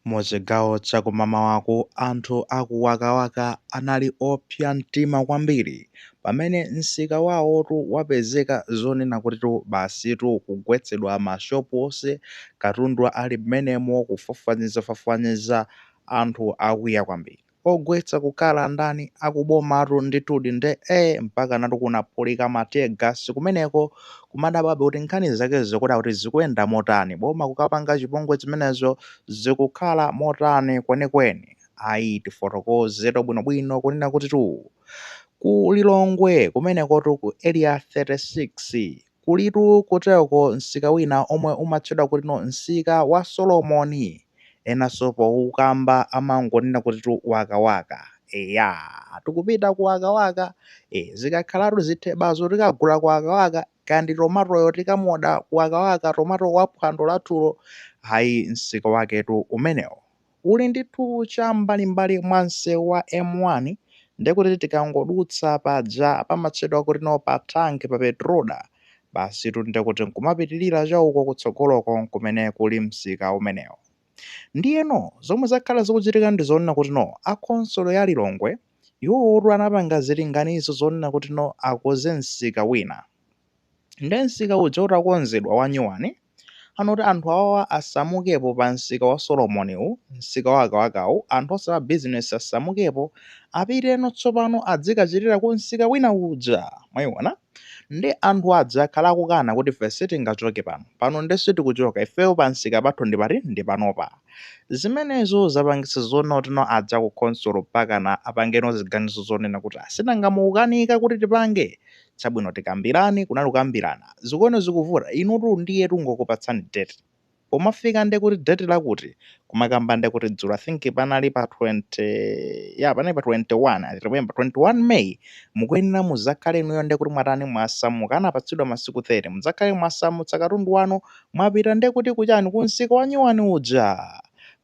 Mu chigawo cha kumamawaku, anthu a ku Wakawaka anali opsa mtima kwambiri pamene msika wawotu wapezeka zonena kutitu basitu kugwetsedwa ma shop onse, katundu ali mmenemo, kufwafwanizafwafwaniza, anthu akwiya kwambiri. Ogwetsa kukhala ndani akubomatu ndithudi nde ee mpakanatu kunaphulika ma tear gas kumeneko kumadabwabe kuti nkhani zake zikuoneka kuti zikuyenda motani boma kukapanga chipongwe zimenezo zikukhala motani kwenikweni ayi tifotokozetu bwinobwino kunena kutitu ku Lilongwe kumenekotu ku area 36 Kulitu kuteroko msika wina omwe umatchedwa kutino msika wa Solomoni enanso pokamba amangonena kutitu waka waka eya tikupita ku waka waka ee zikakhalatu zithebazo tikagula ku waka waka kaya ndi tomatoyo tikamuoda ku waka waka tomato wa phwando lathulo ayi msika waketu umenewo uli ndithu cha m'mbalim'mbali mwa msewu wa M1, ndiye kuti tikangodutsa paja pamatchedwa kutino pa tank pa Petroda, basitu ndiye kuti n'kumapitirira cha uko kutsogoloko n'kumene kuli msika umenewo. Ndiyeno zomwe zakhala zikuchitika ndi zonena kutino a khonsolo ya Lilongwe iwowotu anapanga zilinganizo zonena kutino akonze msika wina. Nde msika uja utakonzedwa wanyuwani, anati anthu awawa asamukepo pa msika wa Solomon'wu, msika wa Wakawakawu, anthu onse a bizinesi asamukepo, apiteno tsopano adzikachitira ku msika wina uja, mwayiwona. Nde anthu aja akhala akukana kuti ife sitingachoke pano, pano nde sitikuchoka, ifeyo pa msika pathu ndi pati, ndi panopa. Zimenezo zapangitsa zonotino aja ku khonsolo mpakana apangeno ziganizo zonena kuti ayi, sinanga mukukanika kuti tipange, Chabwino tikambirane, kunali kukambirana. Zikuoneka zikuvuta, inutu ndiye tungokupatsani date. Pomafika ndiye kuti date lakuti, kumakamba ndiye kuti dzulo I think panali pa 20, eya panali pa 21, I remember 21 May mukuyenera mudzakhale inuyo ndiye kuti mwatani mwasamuka, anapatsidwa masiku 30, mudzakhale mwasamutsa katundu wanu mwapita ndiye kuti kuchani, kumsika wanyuwani uja.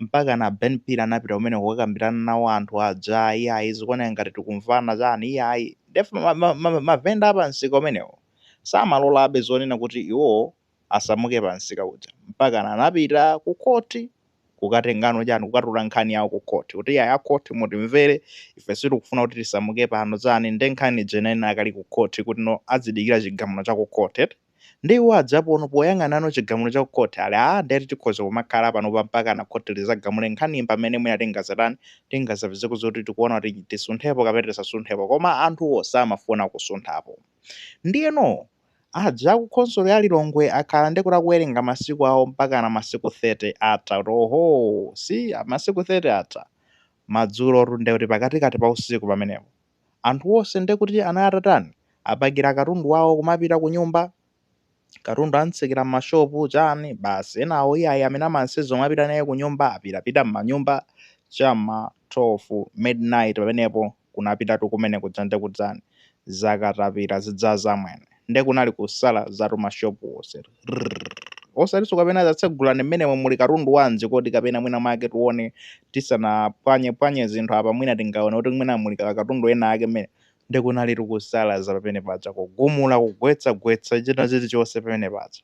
Mpakana Ben Phiri anapita kumeneko kukakambirana nawo anthu aja, iyayi zikuoneka ngati tikumvana chani, iyayi. Nde ma, ma, ma, mavenda a pa msika umenewo samalolabe zonena kuti iwo asamuke pa msika uja mpaka anapita ku khoti kukatengano chani kukatula nkhani yawo ku khoti kuti iyayi a khoti mutimvere ife sitikufuna kuti tisamuke pano chani nde nkhani ija inali ikali ku khoti kutino adzidikira chigamulo cha ku khoti eti Nde iwo adziapo no poyang'anano chigamulo cha ku court eti aah ndiye tikhoza kumakhala panopa mpakana court lidzagamule nkhaniyi mpamene mwina tingadzatani, tingadzapezeko zoti tikuona kuti tisunthepo kapena tisasunthepo koma anthu onse samafuna kusunthapo. Ndiyeno aja aku khonsolo ya Lilongwe akhala ndekuti akuwerenga masiku awo mpakana masiku 30 atha kuti ohoo! eh masiku 30 atha. Madzulotu ndekuti pakatikati pa usiku pamenepo. Anthu onse nde kuti anali atatani? Apakira katundu wawo kumapita kunyumba? Katundu amutsekera m'mashopu, chani, basi. Enawo iyayi amene amanyamula kumapita naye kunyumba apitapita m'manyumba cha m'ma 12 midnight pamenepo kunapitatu kumene kuja nde kuti chani? Zakatapira zija amwene. nde kunali kusalaza timashopu tonsetu rrrr osatiso kapena atseguleni mmenemo muli katundu wanji kodi kapena mwina mwake tione tisanapwanyepwanye zinthu apa mwina tingaone kuti mwina muli katundu ena ake mmenemu nde kunalitu kusalaza pamene paja kugumula kugwetsa gwetsa china chilichonse pamene paja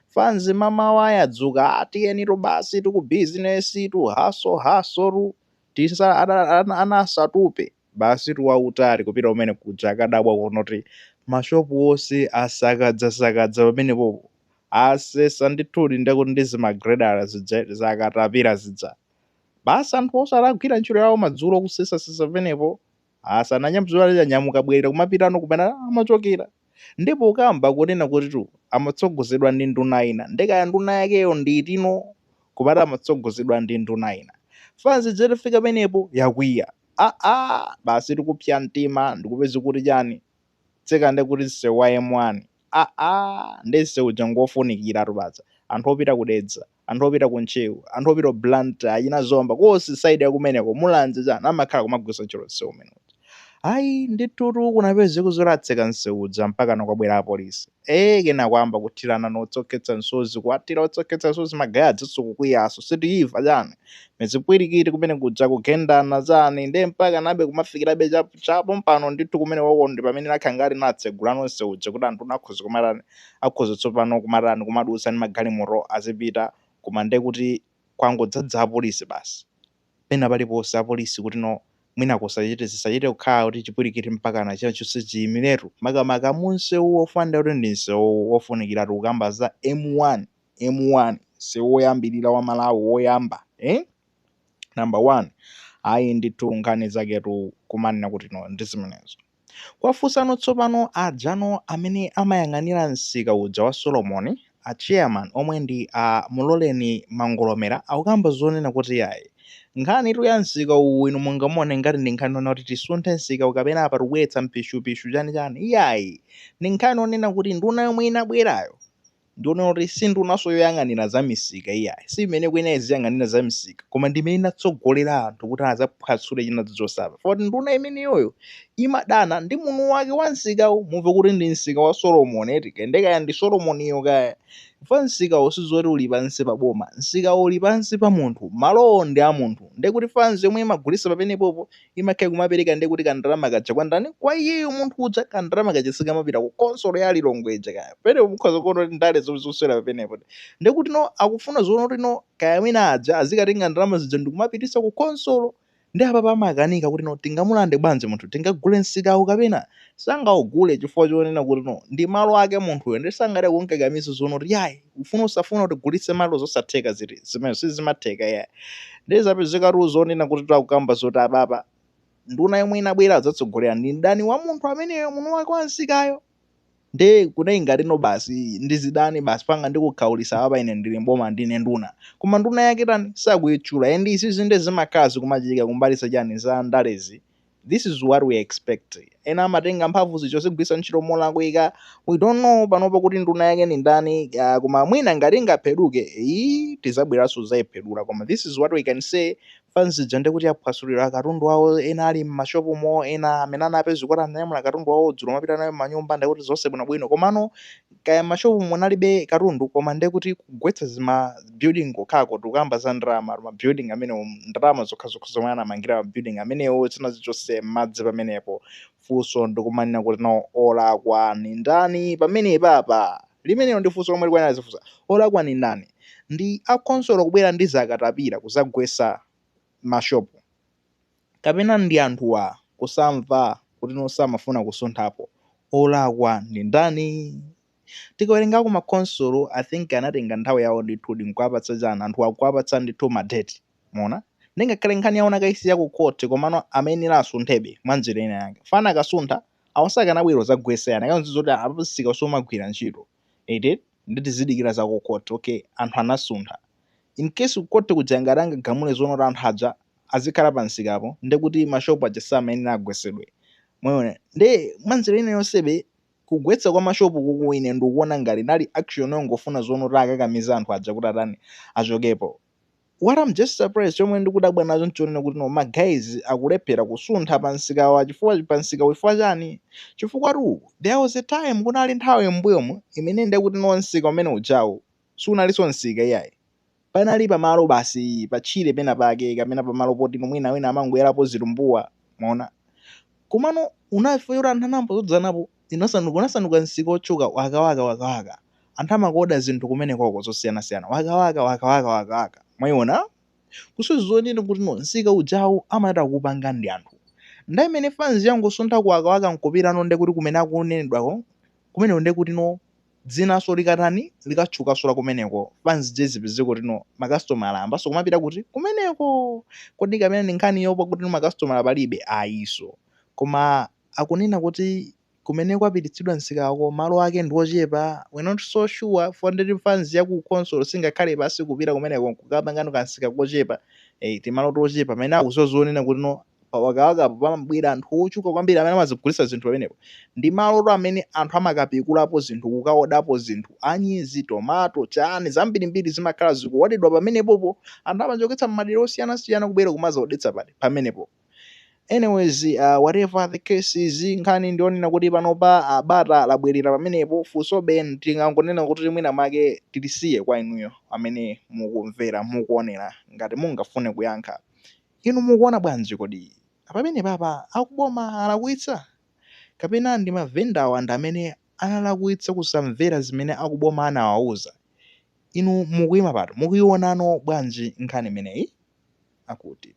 fanzi mamawa yadzuka ah tiyenitu basitu ku bizinesitu hustle hustle tu. tisa ana ana ana asatupe basitu wautali kupita kumene kuja akadabwa kuona kuti mashopu onse asakadzasakadza pamenepopo asesa ndithudi ndekuti ndi zimagireda zija zakatapira zija basi anthu onse adagwira ntchito yawo madzulo kusesasesa pamenepo Ah, ananyamu.. zoona ali anyamuka bwerera kumapitano kumene amachokera. Ndipo akukamba kunena kutitu amatsogozedwa ndi nduna ina. Nde kaya nduna yakeyo ndi iti no koma akuti amatsogozedwa ndi nduna ina. Fans ija itafika penepo yakwiya. Ah ah, basi ndi kupsa mtima ndikupezeka kuti chani? Tseka nde kuti msewu wa M1. Ah ah, nde msewuja ngofunikiratu paja anthu opita ku Dedza. anthu opita ku ntcheu, anthu opita ku blantyre, achina zomba konse side ya kumeneko, mulanje chani amakhala kumagwiritsa ntchito nseu umene uja. Ayi ndithutu kunapezeka zoti atseka nseu uja mpakana kwabwera apolisi. Eee kenako ayamba kuthirana utsi okhetsa msozi kuwathira utsi okhetsa msozi magaye ajanso kukwiyanso sitimva chani zipwirikiti kumene kuja kugendana chani nde mpakanabe kumafikirabe cha cha pompano ndithu kumenekoko ndipamene akhala ngati atsegulano nseu uja kuti anthu akhoza kumatani akhoza tsopano kumatani, kumadutsa ndi magalimoto azipita, koma ndiye kuti kwangodzadza apolisi basi. Pena paliponse apolisi kuti no, mwina kusachite, zisachite kukhala kuti chipwirikiti mpakana china chonse chiimiretu, makamaka munsewu pofanana ndi kuti ndi msewu wofunikira tikukamba za M1, M1, msewu woyambirira wa Malawi woyamba, eh, number one, ayi ndithu nkhani zaketu kumanena kuti no ndi zimenezo. Kwa inusano tsopano adzanu amene amayang'anira msika uja wa Solomoni, a chairman omwe ndi a Muloleni Mangolomera akukamba zonena kuti iyayi nkhanitu ya msika uwu inu mungamuone ngati ndi nkhani yonena kuti tisunthe msikawu kapena apa tikubweretsa mpishupishu chanichani iyayi ndi nkhani yonena kuti nduna yomwe inabwerayo Ndiyeno kuti si ndunanso yoyang'anira za misika iyayi, si imene ikuyenera iziyang'anira za misika, koma ndi imene inatsogolera anthu kuti adzaphwatsule china chilichonse apa. Chifukwa kuti nduna imeneyoyo imadana ndi mwini wake wa msikawu. Mumve kuti ndi msika wa Solomon eti, kaya ndiye kaya ndi Solomoniyo kaya. Chifukwa msikawo si zoti uli pansi pa boma, msikawo uli pansi pa munthu, malowo ndi a munthu. Ndiye kuti fans yomwe imagulitsa pamenepopo imakhala kumapereka ndiye kuti kandalama kaja kwa ndani kwa iyeyo munthu uja kandalama kaja sikamapita ku khonsolo ya Lilongwe ija kaya penepo mukhoza kuona kuti ndale zomwe zikuswera papenepo ndiye kuti no akufuna zonena kuti no kaya mwina aja azikatenga ndalama zija ndikumapititsa ku khonsolo ndi apa pamakanika kuti no tingamulande bwanji munthu tingagule msikawo kapena sangaugule chifukwa chonena kuti no ndi malo ake munthuyo ndi sangathe kumkakamiza zonena kuti yayi ufune usafune kuti ugulitse malo zosatheka zinthu zimenezo sizimatheka iyayi ndiye zapezekatu zonena kuti akukamba zoti apapa nduna yomwe inabwera adzatsogolera ndi mdani wa munthu ameneyo mwini wake wa msikawo nde kunali ngati no basi ndi zidani basi panopa ndikukhaulitsa apa ine ndili mboma ndine nduna koma nduna yake tani sakuyitchula and izizi nde zimakhala zi kumachitika kumbalisa chani za ndalezi this is what we expect ena amatenga mphamvu zija nkuzigwiritsa ntchito molakwika we don't know panopa kuti nduna yake ni ndani uh, koma mwina ngati ingapheduke iyi tizabweranso kuzayiphedula koma this is what we can say fans ija ndi kuti aphwasulidwa akatundu awo ena ali m'mashopu mo ena amene anapezeka kuti ananyamula akatundu awo dzulo napita nawo m'manyumba ndi kuti zonse bwinobwino komano kaya mmashopu munalibe katundu koma nde kuti kugwetsa zima building kokhako tikukamba za ndalama ma building amenewo ndalama zokhazokha zomwe anamangira ma building amenewo zinalowa mmadzi pamenepo funso ndikumanena kuti no olakwa ndi ndani pamenepapa limenelo ndi funso lomwe likuyenera azifunsa olakwa ndi ndani ndi a khonsolo kubwera ndi zakatapira kuzagwetsa ma shop kapena ndi anthuwa kusamva kuti no samafuna kusunthapo olakwa ndi ndani? Tikawerengako ma khonsolo I think anatenga nthawi yawo ndithudi nkuwapatsa chani anthuwa kuwapatsa ndithu ma date mwaona nde ngakhale nkhani yawo anakaisiya ku court komano amayenera asunthebe mwa njira ina yake chifukwa akanasuntha awo sakanabwera kuzagwetsa ayi akanangodziwa zoti apa msika sukugwira ntchito. eti nde tizidikira za ku court ok anthu anasuntha incase ku court kuja ngati angagamule zonena kuti anthu aja azikhala pa msikapo nde kuti ma shop aja samayenera agwetsedwe mwayiona nde mwa nzeru ina yonsebe kugwetsa kwa ma shop kuku ine ndikuona ngati inali action yongofuna zonena kuti akakamize anthu aja kuti atani achokepo What I'm just surprised chomwe ndikudabwa nacho nchonena kuti no magayizi akulephera kusuntha pa msikawu pa msikawu chifukwa chani chifukwa tu there was a time kunali nthawi m'mbuyomu imene ndekuti no msika umene ujawu sunalinso msika iyayi panali pamalo basi pa tchire pena pake kapena pamalo poti no mwina wina amangoyalapo zitumbuwa mwaona komano unafika choti anthu anayamba kudzadzanapo Zinas, unasanduka msika wotchuka, wakawaka, wakawaka. Anthu amakuoda zinthu kumenekoko zosiyanasiyana, wakawaka, wakawaka, wakawaka. Mwaiona? Kusonyeza kuti, kuti no, msika ujawu amatha kuupanga ndi anthu. Nthawi imene fans yangosuntha ku wakawaka nkupita no, ndiye kuti kumene akunenedwako, kumeneko ndiye kuti no, dzinanso likatani, likatchukanso la kumeneko, fans ija izipezeka kuti no, makasitomala ayambanso kumapita kuti? Kumeneko! Kodi kapena ndi nkhani yoopa kuti no, makasitomala palibe? Ayinso. Koma akunena kuti kumene kwapititsidwa msikako malo ake ndi ochepa we're not so sure for ndekuti fans ya ku council singakhale pansi kupita kumeneko nkukapangano ka msika kochepa eh, timalo tochepa pamene akudziwa zonena kuti no pa wakawakapo pamabwera anthu ochuluka kwambiri amene amadzagulitsa zinthu pamenepo ndi malotu amene anthu amakapikulapo zinthu kukaodapo zinthu anyezi tomato chani zambirimbiri zimakhala zikuodedwa pamenepopo anthu amachokera mmadera osiyanasiyana kubwera kumadzaodetsa pati pamenepo Anyways, uh, whatever the case is, nkhani ndionena kuti panopa uh, bata labwerera pamenepo funsobe tingangonena kuti mwina make tilisiye kwa inuyo amene mukumvera mukuonera ngati mungafune kuyankha inu mukuona bwanji kodi pamenepapa akuboma alakwitsa kapena ndi mavendawa ndi amene analakwitsa kusamvera zimene akuboma anawauza Inu mukuima pati, mukuiona bwanji nkhani imeneyi? Akuti.